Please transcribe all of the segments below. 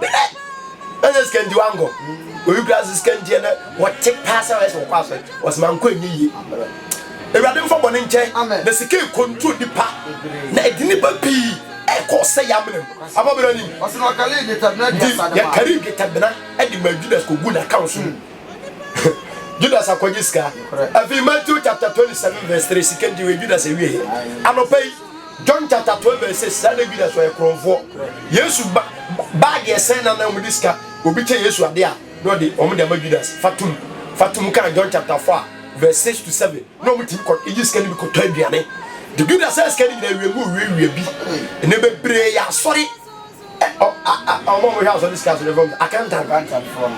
Bere na sɛ sika nti wankɔ, obi kura sɛ sika nti ɛnɛ wɔte paa sɛ wɔyɛ sɛ wɔkɔ asɔre, wɔsɛ mankɔ ɛnyɛ yie. Awurade mfa bɔne nkyɛ na sika ɛkɔntro nipa na ɛde nipa pii ɛkɔ sɛ yɛ amena mu. Afa bere anim nti yɛkari dwetɛbena de ma Judas kɔgu n'account so mu. Judas akɔgye sika. Afei Matthew chapter 27 verse 3 sika nti wei Judas ɛwieɛ anɔpa yi. John chapter twelve verse six saa na bi na so ɔyɛ korɔnfoɔ Yesu ba baa deɛ sɛn na na wɔn de sika obi kyɛ Yesu adeɛ a na ɔde wɔn de ama Judas fatum fatum kan John chapter four verse six to seven na wɔn ti kɔ eyi sika ni bi kɔtɔ aduane de Judas sɛ sika ni nyinaa wie mu wie wie bi ɛnna bebree yɛ asɔre. Ɔmo a ɔmo hwɛ asɔre sika asɔre fam accountant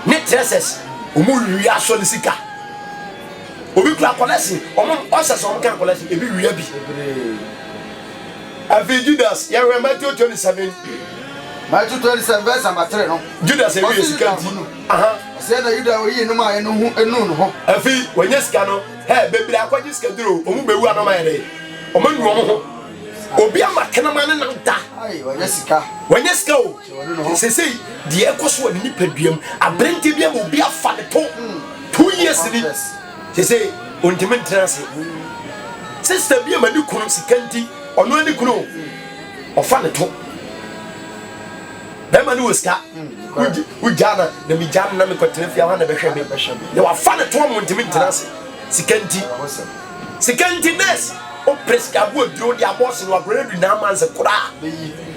ne dressers ɔmo wia asɔre sika obi kura collection ɔmo ɔsɛ sɛ ɔmo kan collection ebi wia bi afei Judas yɛhwɛ Matthew twenty seven Matthew twenty seven verse number three no Judas ewie sika nti ɔsɛ na Yuda oyi no maa yɛ no ho enu no hɔ afei wɔnyɛ sika no hɛ bebree akɔgye sika duro ɔmo bewu anoma yɛ dɛ ɔmo enu ɔmo ho. obi ama kenema ne nam da wanya sika wanya sika o sese deɛ ɛkɔ so wɔ ne nipadua mu aberante bi ama obi afa ne to two years ni sese ontumi ntena ase sista bi ama ne kunu sika nti ɔno ani kunu ɔfa ne to bɛrima ne wɔ sika wogya na na megya no na mekɔtena fie hɔ na bɛhwɛ me na wafa ne to ama ontumi ntena ase sika nti Sika nti nurse opere sika agu aduro de abɔ ɔse no agorɔ adu nine months koraa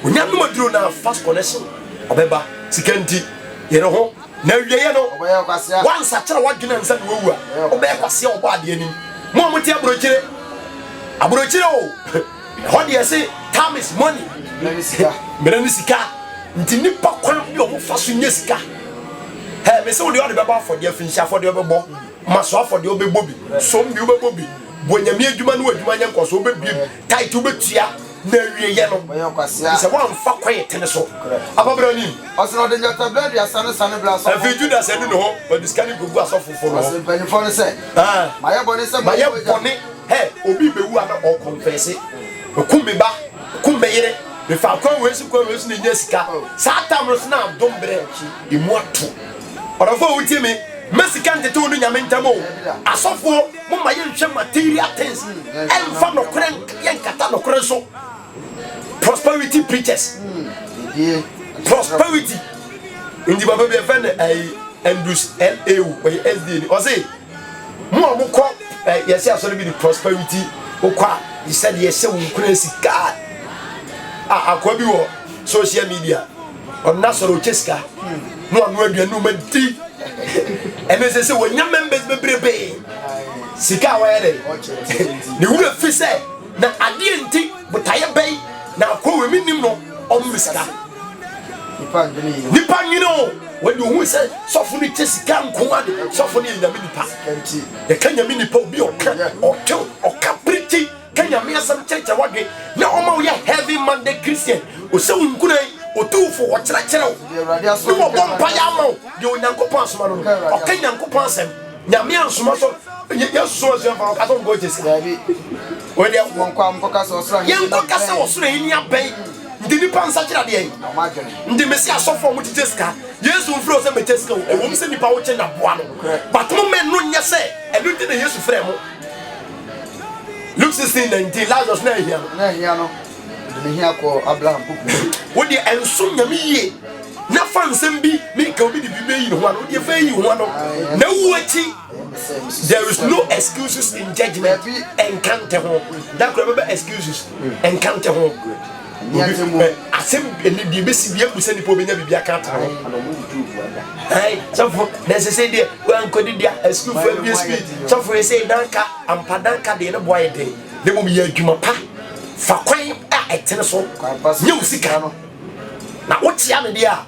onya nom aduro no a first connection ɔbɛba sika nti yere ho na awieɛ no wansakyera wadwene ansa na wawu a ɔbɛyɛ kwaseɛ ɔbɔ adeɛ nim mo a mote abrokyire abrokyire o ɛhɔ deɛ se time is money mmerɛ ne sika nti nipa kwan bi ɔmo fa so nyɛ sika hɛ mese wo deɛ ɔde bɛbɔ afɔdeɛ finhyia afɔdeɛ ɔbɛbɔ Ma so afɔdeɛ wobɛbɔ bi, som bi wobɛbɔ bi, bɔ Nyame adwuma no adwuma nyɛ nkɔso wobɛbiem, tithe wobɛtua, na awieɛ no gye sɛ woamfa kwan ɛtene so aba berɛ no mu. Afei Judas adu ne hɔ, ɔde sika no kɔgu asɔfofoɔ no hɔ. Mayɛ bɔne, hɛ, obi rebɛwu a na ɔrekɔnfɛse, mekum me ba, mekum me yere, mefaa kwan wei so kwan wei so na ɛnya sika, saa tam no so na adom berɛ ɛmu ato. Ɔdɔfoɔ wotie me. Mma sika ntete wo ne Nyame ntam o. Asɔfoɔ momma yɛnhwɛ material things ɛmfa nokorɛ yɛnkata nokorɛ so. Prosperity preachers. Prosperity. Nti papa bi ɛfɛ ne ɛyi Andrews LA o ɔyɛ SDA ni ɔse mo a mokɔ yɛse asɔre bi de prosperity wokɔ a yɛsɛ de yɛhyɛ wo nkura sika a akoa bi wɔ social media ɔna sɔrɔ ɔkyɛ sika na ɔno aduane ɔma di ɛno sɛ sɛ wɔnya members bebrebe sika a wɔyɛ dɛ ne wura fi sɛ na adeɛ nti botaeɛ bɛyi na akɔ wɔ mi nim no ɔno ne sika nipa nwene o wɔde ohun sɛ sɔfo no kyɛ sika nko ade sɔfo no yɛ nyame nipa yɛka nyame nipa obi ɔka ɔtew ɔka pirikyi Ka Nyame asɛm kyerɛkyerɛ w'adwen na ɔma wo yɛ heavy minded Christian, ɔsɛ wo nkuran, ɔtu wo fo, ɔkyerɛkyerɛ wo, ne wɔbɔ mpaeɛ ama wo deɛ Onyankopɔn asoma no no, ɔka Nyankopɔn asɛm. Nyame ansoma sɛ Yesu soma asuafoɔ no ɔka sɛ ɔnkɔ ɔgye sika. Wei deɛ yɛnkɔ ka sɛ ɔsoro ahenni abɛn nti nipa nsakyera deɛ nti mesi asɔfoɔ mo kyekyɛ sika Yesu mfrɛ wo sɛ mɛkyɛ sika ɛwɔ mu sɛ nipa wo kye na boa no but mo mɛ no nyɛ sɛ ɛno nti na Yesu frɛ mo Luke sixteen nineteen Lazarus na ehia no. Na ehia no de ne hia kɔ Abraham poku so. Wo deɛ ɛnsom nyame yie na fa nsɛm bi ne ka obi de bi bɛyi ne ho ano deɛ fɛ yi ho ano na wu akyi there is no excuses in judgment ɛnka nte ho da kora bɛbɛ excuses ɛnka nte ho Obi bɛ asɛm bi ɛnɛ deɛ ɛbɛsi bi ɛmbu sɛ nipa obɛnya biribi aka atena hɔ. Ɛn sɔfo na ɛsɛ sɛ deɛ wankɔ didi a asukuufo abie sukuu sɔfo yɛ sɛ danka ampa danka deɛ ne boa yɛ den na mmom yɛ adwuma pa fa kwan a ɛtene so nyɛ wo sika no na wokyea no deɛ a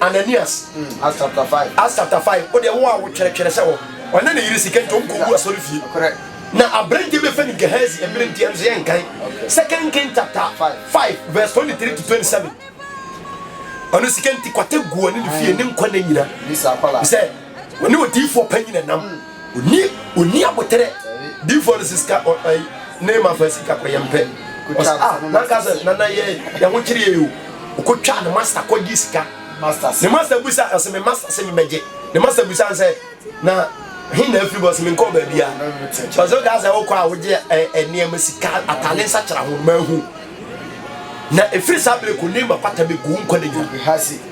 Ananias. Acts chapter five. Acts chapter five. O deɛ wo a wotwerɛtwerɛ sɛ wɔ ɔne ne yere sika nti ɔnkɔgu asɔre fie. Na aberanteɛ bɛfɛ no Gehazi mmerɛ nti ɛno so yɛ nkan. Second King chapter five verse twenty three to twenty seven. Ɔno sika nti kwata gu ɔne ne fie ne nkwa ne nyina. Sɛ Wɔne odiyifoɔ panyin na ɛnam. Onni onni aboterɛ. Diyifoɔ no sisika ɔ ɔ yi ne ma fa sika kɔ yɛn pɛ. Ɔs a nanka sɛ nana yɛ yɛn ho kyere yɛn o. Ɔkɔ twaa ne masta kɔ gye sika. Ne masta bisa ɔs me masta se me bɛ gye. Ne masta bisa nsɛ na he na afiri ba ɔs me nkɔɔ baabia. Ɔs ɔka sɛ ɔkɔ a ɔgye ɛ ɛ nneɛma sika atale nsa kyera ho ma ahu. Na ɛfiri saa bere kɔ ne ma pata bɛ gu wo nkwa nna nyina.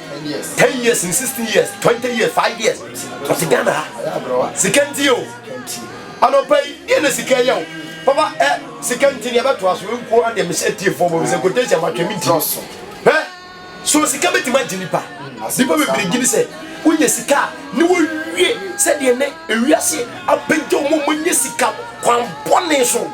ten years ne sixteen years twenty years five years ɔte ghana ha sika nti o anɔpa yi deɛ na sika yɛ o papa ɛ sika nti ne ɛbɛto aso nko adeɛ mehyɛ tiefoɔ bɔ mesɛ quotation matwɛ me ntimi hɛ so sika bɛtumi agye nipa nipa bebree gyini sɛ wonya sika a ne wɔwie sɛdeɛ nɛ ewiase apɛgya ɔmo ɔmo nyɛ sika kwan bɔne so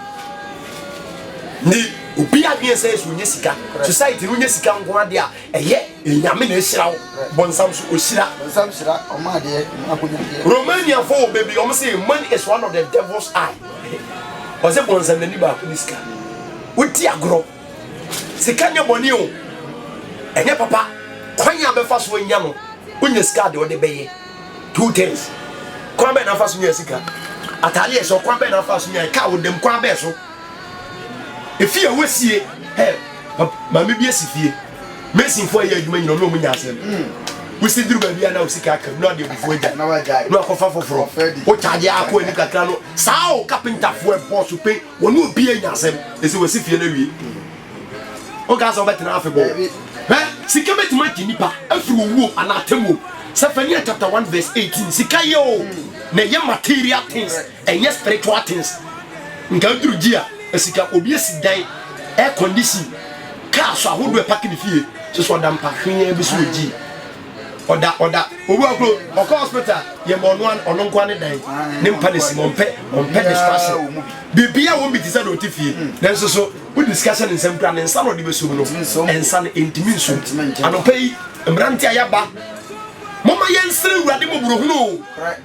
ne obi adwene sɛ ɛsɛ wonya sika society no wonya sika nko adeɛ a Ɛyɛ Nyame na ehyira wo, bɔnsam so ohyira. Bɔnsam hyira ɔma adeɛ, ɔma akonyadeɛ. Romaniafo wɔ bɛ bi, wɔn se money is one of the devil's eye. Wɔse bɔnsam n'ani baako ne sika. Wodi agorɔ. Sika nyɛ bɔne o, ɛnyɛ papa. Kwan a bɛfa so anya no, wonya sika deɛ ɔde bɛyɛ. Two things. Kwan bɛn na afa so nya sika? Atadeɛ ɛhyɛ, kwan bɛn na afa so nya? Kaa wodam, kwan bɛn so? Efie a wɔasie, hɛ, maame bi asi fie. Masonfoɔ a ɛyɛ adwuma nyina ɔne ɔmu nya asɛm. Hmm. Wosi duru baabi a na osika aka mu na ɔde abufuo agya. Na wakɔfa foforɔ. Wokyagye akɔ anim kakra no, saa o kapentafoɔ ɛbɔɔ so pɛn, wɔne obi anya asɛm. Ɛsɛ wɔsi fie no awie. Woka sɛ wobɛtena afe bɔ. Hɛ, sika bɛtumi agye nipa afiri owuo anaa atemmuo. Sefania chapter 1 verse 18 sika yɛ o na ɛyɛ material things Ɛnyɛ spiritual things nka aduru gye a sika obi asi dan air condition car so ahodoɔ ɛpake ne fie so so ɔda mpa hwee bi so ogyi ɔda ɔda obi akoro ɔkɔ hospital yɛ ma ɔno ɔno nkoa ne dan ne mpa ne sim ɔmpɛ ɔmpɛ distraction biribi a wɔn bi te sɛ na ɔte fie nanso so wo discussion nsɛm kura ne nsa na ɔde bɛsom no nsa no ntumi nsom anɔpa yi mmerante a yɛaba moma yɛnsere awurade mmɔborɔhunu o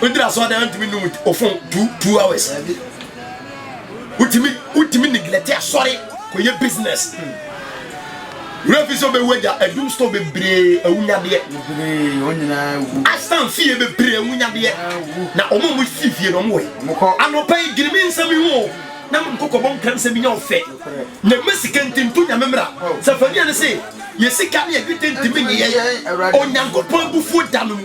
wodiri asɔɔdan a wontumi num ofon two two hours wotumi wotumi neglect asɔre kɔyɛ business wura fi sɛ wobɛwu agya adum store bebree awunyadeɛ asan fie bebree awunyadeɛ na ɔmo mo si fie na ɔmo wɔ yi anɔpa yi gini mi nsɛm yi ho na mo kɔkɔ bɔ nkram sɛ minya ɔfɛ na mɛ sika ntintu nyame mmra sɛ fani ane se yɛ sika ne yɛdwete ntimi ne yɛ onyankopɔn abufuo da no mu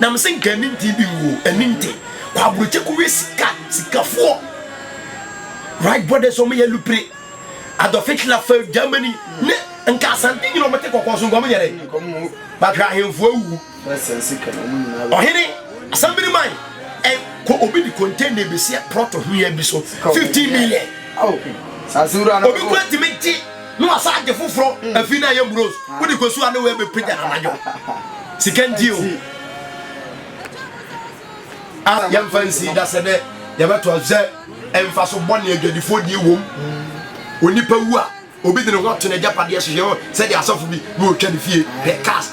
Nam se nka ani nte bi wuo ani nte kɔ aburokye kɔ we sika sika foɔ right brothers wɔn yɛ lupire Adolf Hitler fɛ Germany ne nka asante nyina wɔn te kɔkɔɔ so nka wɔn nyɛ dɛ but hwɛ ahemfo awuwu ɔhene asambiri man ɛ kɔ obi de container bi si prɔto hwea bi so fifteen million obi kura tumi gye. Na wasan agye foforɔ afiri no a ɛyɛ mmurose wode kɔsu a ne wei bɛpagya no anadwo sika nti o a yɛmfa nsi da sɛ dɛ yɛbɛtɔ sɛ ɛmfa so bɔne adwadifoɔ die wom onipa wu a obi de ne ho ato n'agyapadeɛ so yɛ sɛdeɛ asɔfo bi na ɔtwa ne fie hwɛ cars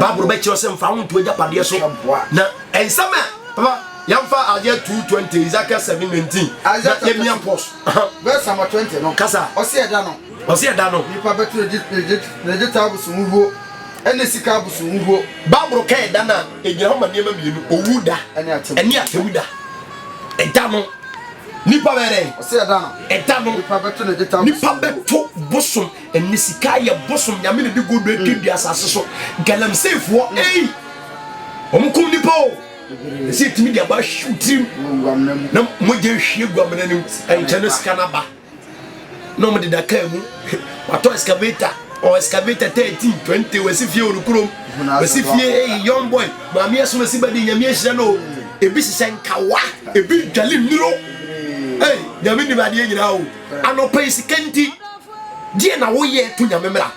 baaboro bɛkyerɛ sɛ mfa wo nto agyapadeɛ so na ɛnsɛm a Yɛmfa Isaiah two twenty, Ezekiel seven nineteen, na yɛmia pause. Verse number twenty no. Kasa. Ɔsi ɛda no. Ɔsi ɛda no. Nipa bɛto ne ne ne dwetɛ abosom huhuo ɛne sika abosom huhuo. Baabolo ka ɛda no a egyina hɔ ma nneɛma mmienu, owu da ɛne atemmu da. Ɛda no nipa bɛyɛ dɛ. Ɔsi ɛda no. Ɛda no. Nipa bɛto ne dwetɛ abosom. Nipa bɛto bosom ɛne sika yɛ bosom nyame ne de godo aduadua asase so galamseyfoɔ ɛyi wɔn kum nipa o. ɛsɛ ɛtumi de aba ahyew tirim na mogya ahwie gu amena no mu ɛnkyɛ no sika no aba na ɔmo deda kaa mu watɔ excavator ɔ excavator thirteen twenty wɔsi fie wɔ no kurom wɔsi fie eyi young boy maame ɛsoma si bɛdi nyame ahyira no ebi hyehyɛ nkawa ebi dwale nnuro ee nyame nim adeɛ nyinaa o anɔpɛ yi sika nti deɛ na woyɛ to nyame mmra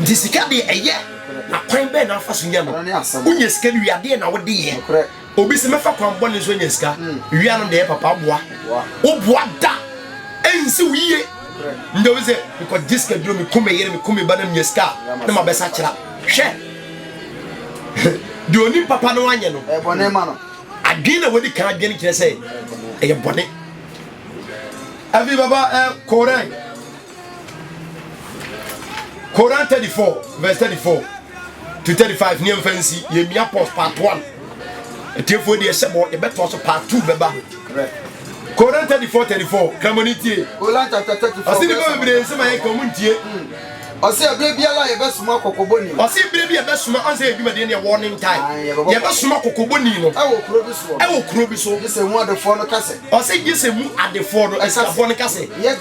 Nti sika deɛ ɛyɛ na kwan bɛn na afa so nya no wonya sika no wie adeɛ na wode yɛ obi sɛ mɛfa kwan bɔne nso anya sika wia no deɛ papa boa woboa da ɛnsi wo yie ndɛ obi sɛ mekɔgye sika duro meko me yere meko me ba na menya sika na mabɛsa kyera hwɛ deɛ onim papa no anyɛ no bɔne ma no adwene na wadi kan adwene kyerɛ sɛ ɛyɛ bɔne ɛbi baba ɛ korɛ Koran 34 vs 34 to 35 ne ɛmfa nsi yɛmia pos part 1 atiefoɔ deɛ ɛhyɛ bɔ yɛbɛtoa so part 2 bɛba Koran 34 34 kramɔne tie ɔse nipa bebree nsɛm ayɛ ka ɔmo ntie ɔse ɛberɛ biara yɛbɛsoma kɔkɔbɔni ɔse berɛ bi yɛbɛsoma ɔnsɛ yɛ dwumadeɛ ne ɛwɔ ne ntae yɛbɛsoma kɔkɔbɔni no ɛwɔ kuro bi so ɛwɔ kuro bi so ne sɛ mu adefoɔ no ka sɛ Ɔse gye sɛ mu adefoɔ no, Asiafoɔ no, ka sɛ, Yɛ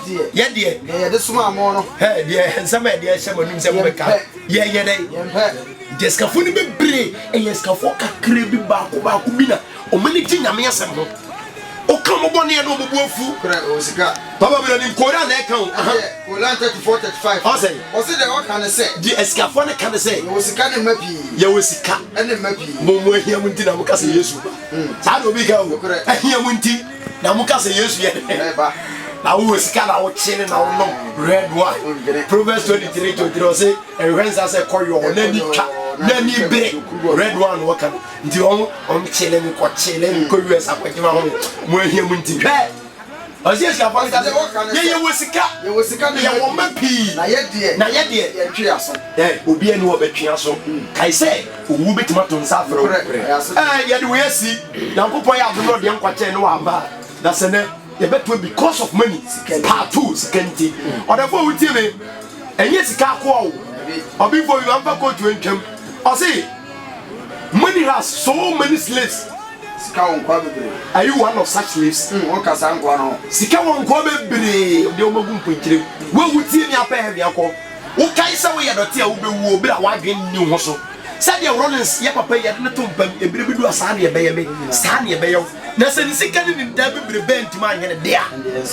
deɛ. Deɛ yɛde somaa mo no. Hɛ, deɛ nsɛm a yɛde ahyɛ mo anom sɛ mobɛka, yɛnyɛ dɛn? Yɛmpɛ. Nti asikafoɔ no bebree, ɛyɛ asikafoɔ kakra bi, baako baako bi na wɔn ani gye Nyame asɛm ho. Woka wɔn bɔne no, wɔn bo afu. Korɛ o, sika. Papa Bro, nim Koran na ɛka o. Aha. Ɛyɛ Koran thirty four thirty five. Ɔse. Ɔse deɛ wɔka ne sɛ. Deɛ asikafoɔ no ka ne sɛ. Yɛwɔ sika ne mma pii. Yɛwɔ sika. Ɛne mma pii. Mo, mo ahia mo nti na moka sɛ Yesu ba. saa na obi ka o ɛhia mu nti na mo ka sɛ yesu yɛ dɛ ba na wowɔ sika na wokye ne na wonom red wine proverbs twenty three twenty three ɔse ɛhwɛ nsa sɛ kɔyɔ hɔ n'ani twa n'ani bere red wine na wɔka no nti wɔn wɔn kyele no kɔ kyele no kɔ us akɔgyema ho mo ahia mu nti hwɛ. Ɔsi asuafoɔ no ka sɛ, Yɛyɛ wɔ sika, yɛwɔ mma pii, na yɛdeɛ, yɛntwe aso. Obiara ni hɔ ɔbɛtwe aso. Kae sɛ, owuo bɛtumi ato nsa afrɛ wo. Yɛde wei asi, Nyankopɔn yɛ adom na ɔde yɛn nkwa kyɛɛ no wɔ ama a, na sɛ nɛ yɛbɛtoa because of money, part two, sika nti. Ɔdɛfoɔ wotie me, ɛnyɛ sika akoa o, ɔbifo yi wamfa kootu antwam, ɔse money has so many slaves. Sika wɔ nkoa bebree. Are you one of such slaves? Mm, woka saa nkoa no ho. Sika wɔ nkoa bebree. Ɔde wɔn agu mponkyerem. Wo a wutie me apɛ heaven akɔ. Wokae sɛ woyɛ dɔte a wubewu o, bere a w'adwene nni wo ho so. Sɛdeɛ Rollins yɛ papa yi, yɛde no to mpa mu, Ebere bedu a saa na ɛbɛyɛ me, saa na ɛbɛyɛ wo. Na sɛ ne sika ne ne nntaa bi bere bɛn ntumi anyɛ ne dea.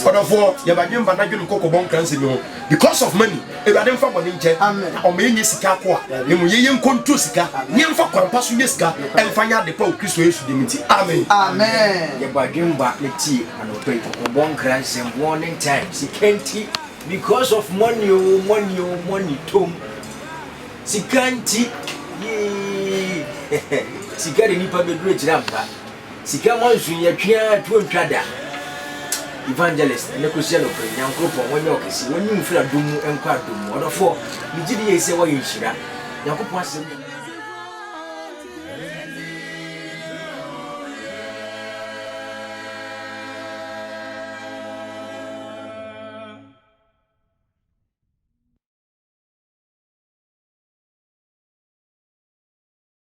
Ɔdɔfoɔ, yɛ badwemma na dwene kɔkɔbɔ nkransɛm yi ho. Because of money. Awurade mfa bɔne nkyɛ na ɔma yɛnyɛ sika akoa, na mmom yɛnyɛ nkonto sika, na yɛmfa kwan pa so nya sika ɛmfa nyɛ ade pa wɔ Kristo Yesu din nti. Amen. Amen. Yɛbɔ adwene ba na tie anɔpa yi kɔkɔbɔ nkra nsɛm warning time sika nti because of money o oh, money o oh, money tom sika nti yee sika de nipa bɛduru akyiri ampa Sika ma nsu nyɛ twe ara ɛtoɔ ntwa da Evangelist ɛnɛ kɔsi anɔpa Nyankoropɔn wonyɛ wo kɛseɛ Wonyi wo firi adom mu nkɔ adom mu Ɔdɔfoɔ me gyidi yei sɛ woayɛ nhyira Nyankopɔn asɛm yɛ